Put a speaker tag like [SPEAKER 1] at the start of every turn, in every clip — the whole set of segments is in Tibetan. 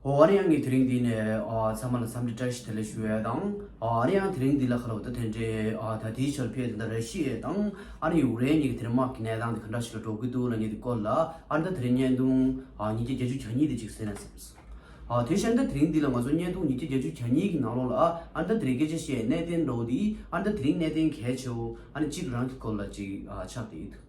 [SPEAKER 1] ཨོ་རེ་ཡང་ངས་དེ་རིང་འདི་ནས་ཚང་མ་ལ་འཚམས་འདྲི་བཀྲ་ཤིས་བདེ་ལེགས་ཞུ་ཡས་དང། ཨོ་རེ་ཡང་དེ་རིང་འདི་ལ་ཁ་ལོ་བ་ད་དེ་འདྲའི་ད་དེའི་ཆ་ལ་ཕེབས་དེ་འདྲ་རེ་ཤི་ཡས་དང། ཨ་རི་ཡུག་རེན་གཉིས་ཀྱི་དེ་རིང་དམག་གི་གནས་སྟངས་དེ་ག་འདྲ་ཞིག་ལ་འགྲོ་གི་འདུག་ལ་ངས་དེ་སྐོར་ལ་ཨ་རི་ད་དེ་རིང་བརྙན་ཐུང་ཉིས་བརྒྱ་བརྒྱད་ཅུ་གྱ་གཉིས་དེ་གཅིག་བཟོས་ན་ཟེར་སོང། དེ་བཞིན་ད་དེ་རིང་འདི་ལ་ང་ཚོ་བརྙན་ཐུང་ཉིས་བརྒྱ་བརྒྱད་ཅུ་གྱ་གཉིས་ཀྱི་ནང་ལོགས་ལ་ཨ་རི་ད་དེ་རིང་སྐད་ཆ་བཤད་ཡས་གནས་བརྟན་འགྲོ་འདི་ཨ་རི་ད་དེ་རིང་གནས་བརྟན་གལ་ཆེའོ་ཨ་རི་གཅིག་རང་གི་སྐོར་ལ་གཅིག་ཆགས་ཀྱི་ཡོད་འདུག།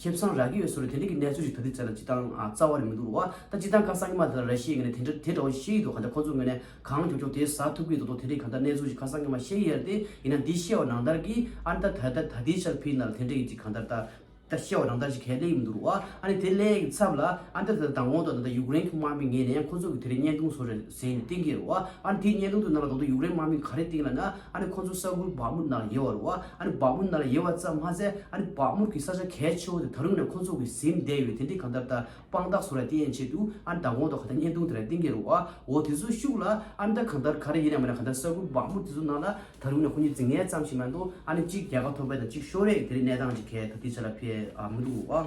[SPEAKER 1] ཁྱིམ་ཚང་རག་གི་ཡོད་ཟེར་བ་དེ་འདྲ་གི་གནས་ཚུལ་ཞིག་ད་དུས་ཚད་ལ་ཅི་ལྟར་རྩ་བ་རེད་མི་འདུག་བ་ད་ཅི་ལྟར་ཁ་སང་ཉི་མ་དེ་ལ་ར་ཤི་ཡའི་ངན་ནས་དེ་འདྲ་བ་ཤེས་ཡི་འདུག་ག་འདྲ་ཁོ་ཚོ་ངོས་ནས་གང་རྒྱོབ་རྒྱོབ་དེ་ཟ་ཐུབ་གི་འདུག་དོ་དེ་འདྲའི་ག་འདྲ་གནས་ཚུལ་ཞིག་ཁ་སང་ཉི་མ་ཤེས་ཡི་ཡ་རེད་དེ་ཡིན་ན་འདི་ཤེས་བ་ནང་ལྟར་གི་ཨ་ནི་ད་ད་ད་དེའི་ཆར་ཕི་ན་ལ་དེ་འདྲ་གི་ཅིག་ག་འདྲ་ད་ཤེས་བ་ནང་ལྟར་ཞིག་གལ་གླེང་གི་མི་འདུག་བ་ཨ་ནི་དེ་གླེང་གི་ཚབ་ལ་ཨ་ནི་ད་ད་ད་དང་གོང་དུ་ད་ད་ཡུཀ་རེན་གི་དམག་མི་ངེས་ནས་ཁོ་ཚོ་གི་དེ་རིང་བརྙན་ཐུང་བཟོ་རེ་ཟེར་ནས་གཏན་འཁེལ་རོ། ཨ་ནི་དེའི་བརྙན་ཐུང་དུ་ནང་ལ་དང་དུ་ཡུཀ་རེན་དམག་མི་ག་རེ་བཏིང་ལ་ན། ཨ་ནི་ཁོང་ཚོ་ས་ཁུལ་བག་མུར་ནང་ལ་ཡེར་བ་རོ། ཨ་ནི་བག་མུར་ནང་ལ་ཡེར་བ་ཙམ་མ་ཟད་ཨ་ནི་བག་མུར་གྱི་ས་ཆ་གལ་ཆེ་བོ་དེ་ད་རུང་ནས་ཁོང་ཚོ་གིས་གཟིམ་བསྡད་ཡོད་དེ་འདི་གང་ལྟར་ད་དཔང་རྟགས་བཟོ་ར་དེ་ཡན་ཆད་དུ་ཨ་ནི་ད་གོང་དུ་ག་ད་བརྙན་ཐུང་དེ་ར་གཏན་འཁེལ་རོ། འོ་དེ་ཚོ་ཤུགས་ལ་ཨ་ནི་ད་གང་ལྟར་ག་རེ་ཡིན་ནས་མ་ནས་ག་ད་ས་ཁུལ་བག་མུར་དེ་ཚོ་ནང་ལ་ད་རུང་ནས་ཁོང་ཉིད་རྫིག་ངན་ཙམ་ཞིག་མ་འདུག་ཨ་ནི་གཅིག་རྒྱལ་ཁ་ཐོབ་པའི་དང་གཅིག་ཤོར་རེས་དེ་རེས་གནས་སྟངས་ཅིག་གལ་ད་དུས་ཚོད་ལ་ཕེབས་ཨ་མི་འདུག་བ།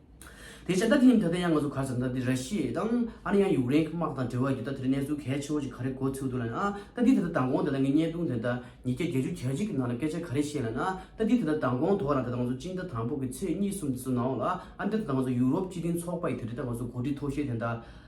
[SPEAKER 1] དེ་བྱས་ད་དེ་ཡིན་ད་ལྟ་ཡང་ང་ཚོ་གར་ཙམ་ད་དེ་ར་ཤི་ཡའི་དང་ཨ་ནི་ཡང་ཡུག་རེན་གི་དམག་དང་འབྲེལ་བ་ཡོད་ད་དེ་རི་གནས་ཚུལ་གལ་ཆེ་བོ་ཅིག་ག་རེ་གོ་ཚུལ་འདུག་ལ་ནི་ཨ་ད་དེ་ད་ད་དང་གོང་ད་ད་ངས་བརྙན་ཐུང་དེ་ད་ཉིས་བརྒྱ་བརྒྱད་ཅུ་གྱ་གཅིག་གི་ནང་ལ་སྐད་ཆ་ག་རེ་བཤད་ལ་ནི་ཨ་ད་དེ་ད་ད་དང་གོང་དོག་རང་ད་ད་ང་ཚོ་གཅིག་ད་དང་པོ་གི་ཚེས་གཉིས་གསུམ་དེ་ཚོ་ནང་ལ་ཨ་ནི་ད་ད་ང་ཚོ་ཡུག་རོབ་སྤྱི་མཐུན་ཚོགས་པ་ཡི་དེ་རི་ད་ང་ཚོ་གོ་སྒྲིག་ཐོག་ཤེས་དེ་ད་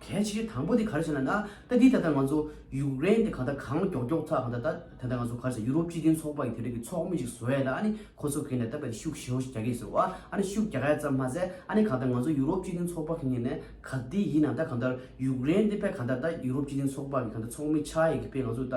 [SPEAKER 1] གལ་ཆེ་གེ་དང་པོ་དེ་ག་རེ་བྱས་ན་ན་ད་དེ་ད་ལྟ་ང་ཚོ་ཡུཀ་རེན་དེ་གང་ལྟར་གང་མགྱོགས་མགྱོགས་ཚ་གང་ལྟར་ད་དེ་ད་ང་ཚོ་ག་རེ་བྱས་ཡུ་རོབ་སྤྱི་མཐུན་ཚོགས་པ་ཡི་དེ་རིང་གི་ཚོགས་མི་ཞིག་བཟོ་ཡས་ད་ཨ་ནི་ཁོ་ཚོ་གིས་ནས་ད་པད་ཤུགས་ཞེ་བོ་ཞིག་རྒྱག་གེ་ཟེར་བ་ཨ་ནི་ཤུགས་རྒྱག་ཡས་ཙམ་མ་ཟད་ཨ་ནི་གང་ལྟར་ང་ཚོ་ཡུ་རོབ་སྤྱི་མཐུན་ཚོགས་པ་གིས་ནས་ག་དེ་ཡིན་ན་ད་གང་ལྟར་ཡུཀ་རེན་དེ་པད་གང་ལྟར་ད་ཡུ་རོབ་སྤྱི་མཐུན་ཚོགས་པ་གི་གང་ལྟར་ཚོགས་མི་ཆགས་ཡས་གི་པད་ང་ཚོ་ད།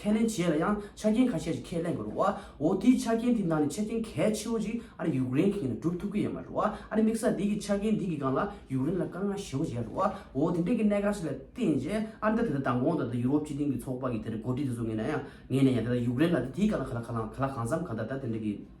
[SPEAKER 1] ཁས་ལེན་བྱས་ལ་ཡང་ཆ་རྐྱེན་ཁ་ཤས་ཤིག་ཁས་ལེན་དགོས་རུང་བའོ། དེའི་ཆ་རྐྱེན་དེ་ནང་ནས་ཆ་རྐྱེན་གལ་ཆེ་བོ་ཞིག་ཨ་རི་ཡུཀ་རེན་གྱི་ངང་ནས་སྒྲུབ་ཐུབ་ཀྱི་ཡོད་མ་རུང་བ་ཨ་རི་དམིགས་ས་དེ་གི་ཆ་རྐྱེན་དེ་གི་སྒང་ལ་ཡུཀ་རེན་ལ་དཀའ་ངལ་ཞི་བོ་འཇལ་རུང་བའོ། དེ་འདྲའི་གི་གནད་འགག་ཞིག་ལ་བརྟེན་རྗེས་ཨ་རི་དང་དེ་ལྟར་མདང་དགོང་དང་དེ་ལྟར་ཡུ་རོབ་སྤྱི་མཐུན་གྱི་ཚོགས་པ་གི་དེ་འདྲའི་འགོ་ཁྲིད་དེ་ཚོ་ངེས་ནས་ཡང་ངེས་ནས་ཡང་དེ་ལྟར་ཡུཀ་རེན་ལ་དེ་དེའི་སྒང་ལ་ག་ལ་གང་འཚམས་གང་དག་ད་དེ་འདྲའི་གི།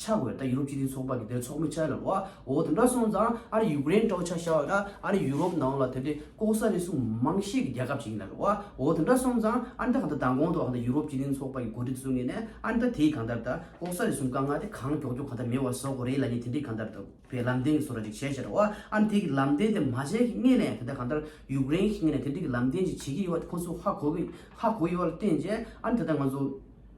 [SPEAKER 1] ཆ་དགོས་ད་ཡུ་རོབ་སྤྱི་མཐུན་ཚོགས་པ་དེ་དེར་ཚོགས་མི་ཆ་ལ་ལོ་ཨོ་དེ་འདྲ་སོང་ཙང་ཨ་ར་ཡུ་ཀེ་རེན་དཀྲོག་ཆ་ཤ་བ་ད་ཨ་ར་ཡུ་རོབ་ནང་ལ་དེ་འདྲའི་ལྐོག་ཟ་རེ་ཟུང་མང་ཤས་ཀྱི་རྒྱལ་ཁབ་ཞིག་ཡིན་ལ་ལོ་ཨོ་དེ་འདྲ་སོང་ཙང་ཨ་འདྲ་གང་ད་ད་གོང་དུ་གང་ད་ཡུ་རོབ་སྤྱི་མཐུན་ཚོགས་པ་ཡི་འགོ་ཁྲིད་བཟུང་ངེས་ནས་ཨ་འདྲ་དེས་གང་ལྟར་ད་ལྐོག་ཟ་རེ་ཟུང་བཀའ་མངགས་ཏེ་གང་ཀྱོག་ཀྱོག་གང་ད་མེད་བ་བཟོ་དགོས་རེད་ལ་ནི་དེ་འདྲའི་གང་ལྟར་ད་བའི་ལམ་སྟོན་གྱི་བཟོ་ར་ཅིག་བྱས་ཤ་ར་ཨོ་ཨ་ནི་དེ་གི་ལམ་སྟོན་དེ་མ་བྱས་ཀྱི་ངེས་ནས་དེ་ད་གང་ལྟར་ཡུ་ཀེ་རེན་གྱི་ངེས་ནས་དེ་འདྲའི་གི་ལམ་སྟོན་ཅིག་བྱེད་ཀྱི་ཡོད་བ་དེ་ཁོང་ཚོས་ཧ་གོ་གི་ཧ་གོ་ཡོད་བ་ལ་བརྟེན་རྗེས་ཨ་ནི་དེ་ད་ང་ཚོ།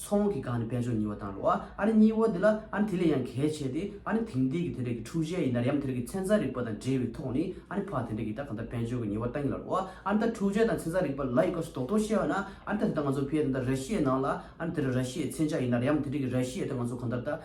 [SPEAKER 1] མཚོ་སྔོན་གྱི་སྒང་ནི་དཔལ་འབྱོར་སྙི་བ་དང་རོ་ཨ་རི་སྙི་བ་དེ་ལ་ཨ་ནི་དེ་ལས་ཡང་གལ་ཆེ་སྟེ་ཨ་ནི་དེང་དུས་ཀྱི་དེ་འདྲ་གི་འཁྲུག་ཆས་ཡིན་ན་ཡང་དེ་འདྲ་གི་ཚན་རྩལ་རིག་པ་དང་འབྲེལ་བའི་ཐོག་ནས་ཨ་ནི་ཕ་དེ་འདྲ་གི་ད་གང་ལྟར་དཔལ་འབྱོར་གྱི་སྙི་བ་བཏང་ཡིན་ལ་རོ་ཨ་ནི་ད་འཁྲུག་ཆས་དང་ཚན་རྩལ་རིག་པ་ལ་ཡི་སྐབས་སུ་དོགས་དོགས་བྱས་པ་ན་ཨ་ནི་ད་དེ་ད་ང་ཚོ་བྷེ་དེ་འདྲ་ར་ཤི་ཡའི་ནང་ལ་ཨ་ནི་དེ་འདྲ་ར་ཤི་ཡའི་མཚན་ཆ་ཡིན་ན་ཡང་དེ་འདྲ་གི་ར་ཤི་ཡའི་ད་ང་ཚོ་གང་ལྟར་ད།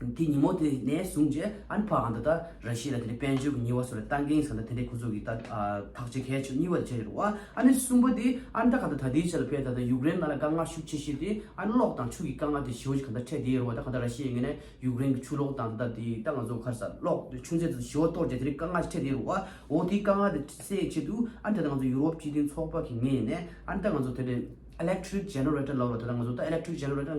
[SPEAKER 1] དེ་ཉིན་མོ་དེ་ནས་བཟུང་རྗེས་ཨན་ཕ་ཨན་ད་ད་ར་ཤི་ལ་དེ་ནས་དཔལ་འབྱོར་གྱི་ཉིན་བ་སོགས་ལ་ཏང་འགན་ས་ད་དེ་འདྲའི་ཁོ་ཚོ་གི་ད་ཐག་ཆེ་གལ་ཆེ་བ་གཉིས་བ་དེ་བྱས་ཡོད་རེད་བ། ཨ་ནི་གསུམ་པ་དེ་ཨན་ད་ག་ད་ད་དེའི་ཆ་ལ་ཕེབས་ད་ད་ཡུཀ་རེན་ང་ལ་དཀའ་ངལ་ཤུགས་ཆེ་ཤེས་དེ་ཨན་གློག་དང་ཆུ་གི་དཀའ་ངལ་དེ་ཞི་བ་ཆུ་ག་ད་འཕྲད་དེ་ཡོད་རེད་བ་ད་ག་ད་ར་ཤི་ཡི་ངེས་ནས་ཡུཀ་རེན་གྱི་ཆུ་གློག་དང་ད་ད་དེ་ད་ང་ཚོ་གར་ས་གློག་ཆུ་མཛེས་ད་ད་ཞི་བ་གཏོར་རྗེས་དེ་རིང་དཀའ་ངལ་ཆེ་འཕྲད་དེ་ཡོད་རེད་བ། འོ་དེའི་དཀའ་ངལ་དེ་སེལ་ཆེད་དུ་ཨན་ད་ད་ང་ཚོ་ཡུ་རོབ་སྤྱི་མཐུན་ཚོགས་པ་གི་ངེས་ནས་ཨན་ད་ང་ཚོ་དེ་ལས electric generator ལོབས་རེད་ད་ད་ང་ཚོ་ད electric generator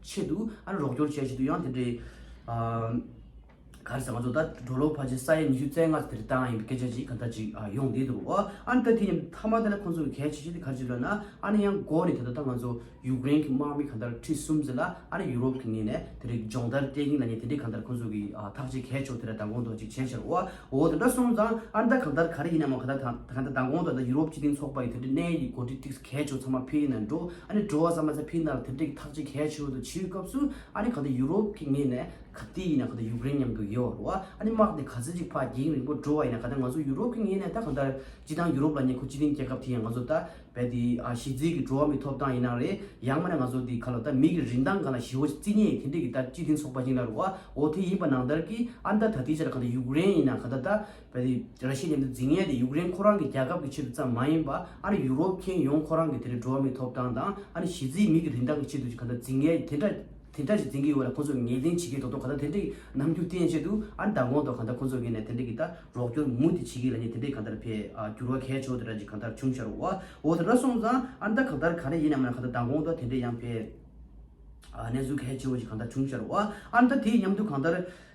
[SPEAKER 1] ཆེད་དུ་རོགས་སྐྱོར་བྱས་བཞིན་དུ་ཡང་དེ་འདྲའི། ག་རེ་ཟེར་ང་ཚོ་ད་གྲོ་ལོག་བར་གྱི་ས་ཡ་ཉི་ཤུ་རྩེ་ལྔ་དེར་བལྟ་ཡང་ཡིན་པའི་སྐད་ཆ་ཅིག་ག་འདྲ་ཅིག་ཡོང་བསྡད་འདུག་ཨ་ཨ་ད་དེ་ཡིན་མཐའ་མ་ད་ནི་ཁོང་ཚོ་གི་གལ་ཆེ་ཤོས་དེ་ག་རེ་ཅིག་ལབ་ན་ཨ་ནི་ཡང་མགོ་ནས་དེ་ད་ད་ང་ཚོ་ཡུཀ་རེན་གྱི་དམག་མི་ག་འདྲ་ཁྲི་གསུམ་ཟེར་ལ་ཨ་ནི་ཡུ་རོབ་ཀྱི་ངོས་ནས་དེ་རིགས་སྦྱོང་བརྡར་སྤྲད་ཀྱིན་ལ་ཉེ་དེ་འདྲའི་ག་འདྲ་ཁོང་ཚོ་གི་ཐག་ཅིག་གལ་ཆོག་དེ་ར་ད་དགོངས་དོག་ཅིག་བྱས་ཤར་ཨོ་ཨ་འོ་དེ་འདྲ་སོང་ཙང་ཨ་ནི་ད་ག་འདྲ་ག་རེ་ཡིན་ནའང་ག་ད་ད་ག་འདྲ་ད་དགོངས་དོག་ད་ཡུ་རོབ་སྤྱི་མཐུན་ཚོགས་པ་ཡི་དེ་འདྲའི་གནས་ཡི་འགོ་ཁྲིད་ཅིག་གས་ཆུ་ཚང་མ་ཕི་ཡིན་ན་འགྲོ། ཨ་ནི་འགྲོ་བ་ཙམ་མ་ཟད་ཕི་ཡིན་ན་ལ་དེབ་འབྲི་གི་ཐག་གཅིག་གས་ཆུ་དུ་བྱིའུའི་སྐབས་སུ་ཨ་ནི་ག་དུས་ཡུ་རོབ་ཀྱི་ངེས་ནས་ག་དུས་ཡིན་ན་ག་དུས་ཡུཀ་རེན་མཉམ་དུ་ཡོད་བར་བ་ཨ་ནི་དམག་དེ་ག་ཚོད་ཅིག་ཕ་གིང་རིང་པོ་འགྲོ་བ་ཡིན་ན་ག་དུས་ང་ཚོ་ཡུ་རོབ་ཀྱི་ངེས་ནས་ད་གང་ལྟར་སྤྱི་བཏང་ཡུ་རོབ་ལ་ཉེ་ཁོ་སྤྱི་བཏིང་སྐྱེ་སྐབས་དེ་ཡང་ང་ཚོ་ད་བལ་དེ་ཨ་ཞི་རྫིས་ཀྱི་འགྲོ་བ་མི་ཐོབ་ཐང་ཡིན་ན་རེད་ཡང་མ་ན་ང་ཚོ་དེ་ག་ལ་ད་མིག་གི་རིན་ཐང་གང་ལ་ཞི་བོ་རྩིས་ཉེས་ཡིན་དེ་འདྲི་གི་ད་སྤྱི་བཏིང་ཚོགས་པ་གཅིག་ལ་རུ་བ་འོ་དེ་ཡིན་པ་ནང་ལྟར་གི་ཨ་ནི་ད་ད་ལྟའི་ཆ་ལ་ག་དུས་ཡུཀ་རེན་ཡིན་ན་ག་ད་ད་གལ་ཏེ་ར་ཤི་ཡའི་འདི་འཛིན་ཡས་དེ་ཡུཀ་རེན་ཁོ་རང་གི་རྒྱལ་ཁབ་ཀྱི་ཆེད་དུ་ཙམ་མ་ཡིན་པ་ཨ་རི་ཡུ་རོབ་མཁན་ཡོངས་ཁོ་རང་གི་དེ་རིང་འགྲོ་བ་མིའི་ཐོབ་ཐང་དང་ཨ་རི་གཞིས་རྩེའི་མི་གི་རིན་ཐང་གི་ཆེད་དུ་ཅིག་ག་འདྲ་འཛིན་ཡས་དེ་འདྲ་དེ་འདྲ་ཞིག་འཛིན་གི་ཡོད་ལ་ཁོ་ཚོས་ངེས་གཏན་བྱེད་ཀྱི་འདུག་ཐོག་ག་ད་དེ་འདྲ་གི་ནམ་རྒྱུན་བསྟན་ཆེད་དུ་ཨ་རི་དང་གོང་དུ་ག་འདྲ་ཁོ་ཚོ་གི་ནས་དེ་འདྲ་གི་ད་རོགས་སྐྱོར་མུ་མཐུད་བྱེད་གི་ལ་ཉེ་དེ་འདྲས་ག་འདྲ་བས་འགྱུར་བ་གལ་ཆོག་དེ་འདྲ་ཅིག་ག་འདྲ་བྱུང་ཤར་བའོ་འོ་དེ་འདྲ་སོང་ཙང་ཨ་རི་ད་ག་ད་ག་རེ་ཡིན་ནམ་ཡང་ག་ད་ད་གོང་དུ་དེ་འདྲས་ཡང་བས་གནས་ཚུལ་གལ་ཆེ་བོ་ཅིག་ག་འདྲ་བྱུང་ཤར་བའོ་ཨ་རི་ད་དེ་ཡི་མཉམ་དུ་ག་ད་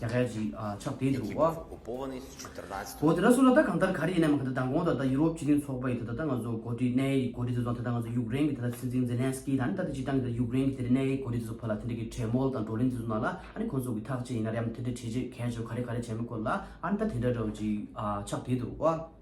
[SPEAKER 1] རྒྱ་གར་གྱི་ཕྱག་དེབ་རུ་ཨ། གོ་དེ་དག་སུ་ལ་ད་གང་ལྟར་ག་རེ་ཡིན་ནའི་མ་ག་དེ་དང་གོང་ད་ད་ཡུ་རོབ་སྤྱི་མཐུན་ཚོགས་པ་ཡི་ད་ད་ད་ང་ཚོ་གོ་དྲིས་གནད་ཡིག་གོ་དྲིས་དེ་ཚོ་དང་ད་ང་ཚོ་ཡུཀ་རེན་གྱི་ད་ད་སྲིད་འཛིན་ཛེ་ལན་སི་ཀི་དང་ད་ད་སྤྱི་དང་གི་ད་ཡུཀ་རེན་གྱི་དེ་རེ་གནད་ཡིག་གོ་དྲིས་དེ་ཚོ་ཕོ་ལ་དེ་འདྲ་གི་གྲས་མོལ་དང་བགྲོ་གླེང་དེ་ཚོ་གནང་ལ་ཨ་ནི་ཁོང་ཚོ་གི་ཐག་ཅི་ཡིན་ན་རེ་ཨ་མ་དེ་འདྲ་བྱེད་བྱེད་གལ་ཆེ་བ་ག་རེ་ག་རེ་བྱས་མི་དགོས་ལ་ཨ་ནི་ད་དེ་འདྲ་རོ་གྱི་ཕྱག་དེབ་རུ་ཨ།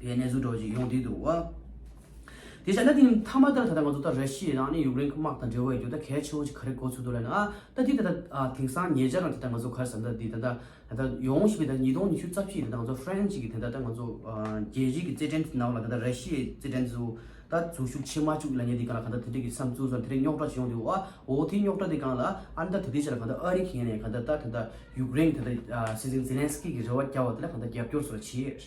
[SPEAKER 1] དེ་གནས་ཚུལ་དྲོ་ཞིང་ཡོང་དུས་འདུག་བ། དེ་བྱས་ན་དེ་ནི་མཐའ་མ་ལྟར་ད་ལྟ་ང་ཚོ་ལྟར་ར་ཤི་ཡའི་རང་ནི་ཡུཀ་རེན་གི་དམག་དང་འབྲེལ་བ་ཡོད་རྒྱུ་ད་གལ་ཆེ་བོ་ཅིག་ག་རེ་གོ་ཚོད་འདུག་ལ་ནི་ཨ་ད་དེ་ད་ད་དེང་སང་ཉེ་ཆར་རང་དེ་ད་ང་ཚོ་གར་ཟ་འདྲ་འདི་ད་ད་ད་ད་ཡོང་བཞིན་པའི་ད་ཉིས་སྟོང་ཉི་ཤུ་རྩ་བཞི་ད་ད་ང་ཚོ་ཧྥ་རན་སི་གི་དེ་ད་ད་ང་ཚོ་རྒྱལ་སྤྱིའི་གི་རྩེད་འགྲན་དེ་ནང་ལ་ད་ད་ར་ཤི་ཡའི་རྩེད་འགྲན་དེ་ད་འཛུལ་ཞུགས་བྱེད་མ་བཅུག་ལ་ཉེ་དེ་གང་ལ་གང་ད་དེ་འདྲའི་གི་བསམ་ཚུལ་དེ་འདྲའི་རྙོག་དྲ་ཞིག་ཡོང་དུས་བ་འོ་དེ་རྙོག་དྲ་དེ་གང་ལ་ཨ་ད་དེ་དེ་བྱས་ལ་གང་ད་ཨ་རི་གི་ཡན་ནས་གང་ད་ད་དེ་ད་ཡུཀ་རེན་གི་དེ་ད་སྲིད་འཛིན་ཛེ་ལན་སི་ཀི་གི་རེ་བ་བསྐྱལ་བ་དེ་ལ་གང་ད་རྒྱབ་སྐྱོར་སོགས་བྱས།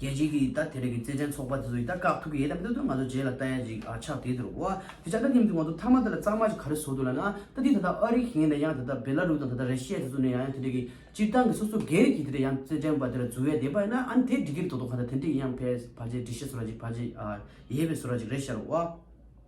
[SPEAKER 1] རྒྱལ་སྤྱིའི་གི་ད་དེ་རེ་གི་རྩེད་འགྲན་ཚོགས་པ་དེ་ཚོ་ཡི་ད་དཀག་ཐུག་གི་ཡེད་དམ་ད་དུ་ང་ཚོ་རྗེས་ལ་ལྟ་ཡ་ཅིག་ཨ་ཆག་དེ་དུ་རུ་བ་དེ་ཆག་ད་སྙམ་དུ་ང་ཚོ་མཐའ་མ་དེ་ལ་གཙང་མ་ཅིག་ག་རེ་བཟོ་དུ་ལ་ན་ད་དེ་ད་ད་ཨ་རི་གི་ཡིན་ད་ཡང་ད་ད་བེ་ལ་རུ་དང་ད་ད་རེ་ཤི་ཡ་དེ་ཚོ་ནས་ཡང་ཡང་དེ་རེ་གི་སྤྱིར་བཏང་གི་སོ་སོ་སྒེར་གི་དེ་རེ་ཡང་རྩེད་འགྲན་པ་དེ་ལ་འཛུལ་ཡ་དེ་པ་ཡིན་ན་ཨ་ནི་དེ་འགྲིག་གི་རེད་དོ་དོ་ག་ད་དེ་འགྲིག་ཡིན་ཡང་བས་བ་ཅེ་འགྲིག་ཤེས་བཟོ་ར་ཅིག་བ་ཅེ་ཡེ་བས་བཟོ་ར་ཅིག་རེ་ཤར་བ།